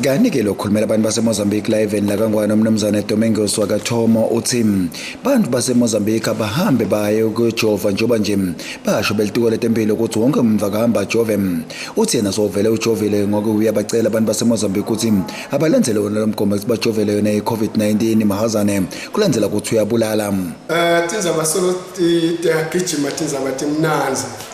Kanti-ke lo khulumela abantu baseMozambique la eveni lakangwane umnumzane Domingos wakathomo uthi bantu baseMozambique abahambe baye ukuyojova njengoba nje basho belituko letempilo ukuthi wonke umuntu akahamba ajove uthi yena sovele ujovile ngoke uyabacela abantu baseMozambique ukuthi abalandele wona lo mgomo ukuthi bajovele yona i-covid-19 mahazane kulandela ukuthi uyabulala um tinzaba solo tiyagijima tinzaba timnanzi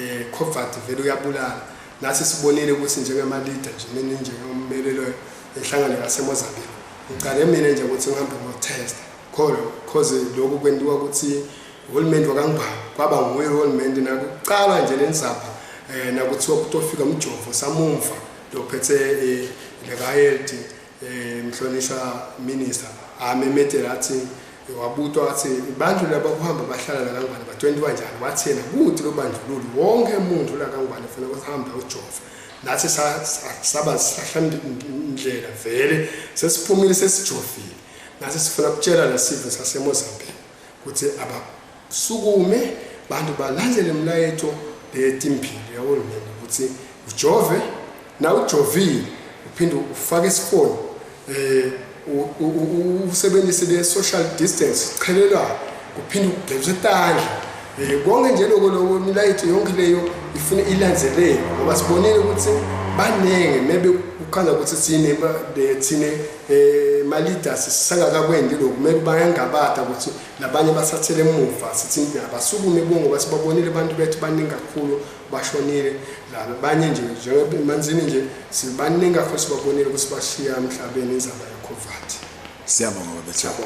eh covert vele uyabulala nathi sibonile ukuthi njengama leader nje mina nje ngommelelo enhlangano yaseMozambique ngicale mina nje ukuthi ngihambe ngo test khona cause lokhu kwendiwa ukuthi uhulumende wakangibhawa kwaba nguye uhulumende nakuqala nje lensapha eh nakuthiwa kutofika umjovo samumva lophethe eh leka health Eh, mhlonishwa minister amemethela athi wabutwa athi abantu laba kuhamba bahlala lakangwane ba-20 kanjani wathi yena kuthi lobandlululi wonke muntu lakangwane funa ukuthi hambe ujova nathi saba sahlandlela vele sesiphumile sesijovile nathi sifuna kutshela lesive sasemozambique kuthi abasukume bantu balandele mlayeto leyetimpilo yahulumeni ukuthi ujove na ujovile uphinde ufake isifonyo um usebenzise le-social distance qhelelwayo kuphinde ukugeza etandla um eh, konke nje loko loko milayetho yonke leyo ifuna ilandzeleke ngoba sibonile ukuthi baningi mebe kuchaza ukuthi sine thine eh malida sisangakakwendi lokhu kumele bayangabata ukuthi labanye basathele emuva sithi abasukume kuwo ngoba sibabonile abantu bethu baningi kakhulu bashonile laba banye nje njengemanzini nje sibaningi kakhulu sibabonile ukuthi bashiya emhlabeni izaba yokhovati siyabonga babethabo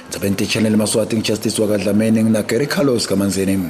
Ndzaben Channel Maswati ngijustice wakadlameni ngina Gary Carlos kaManzini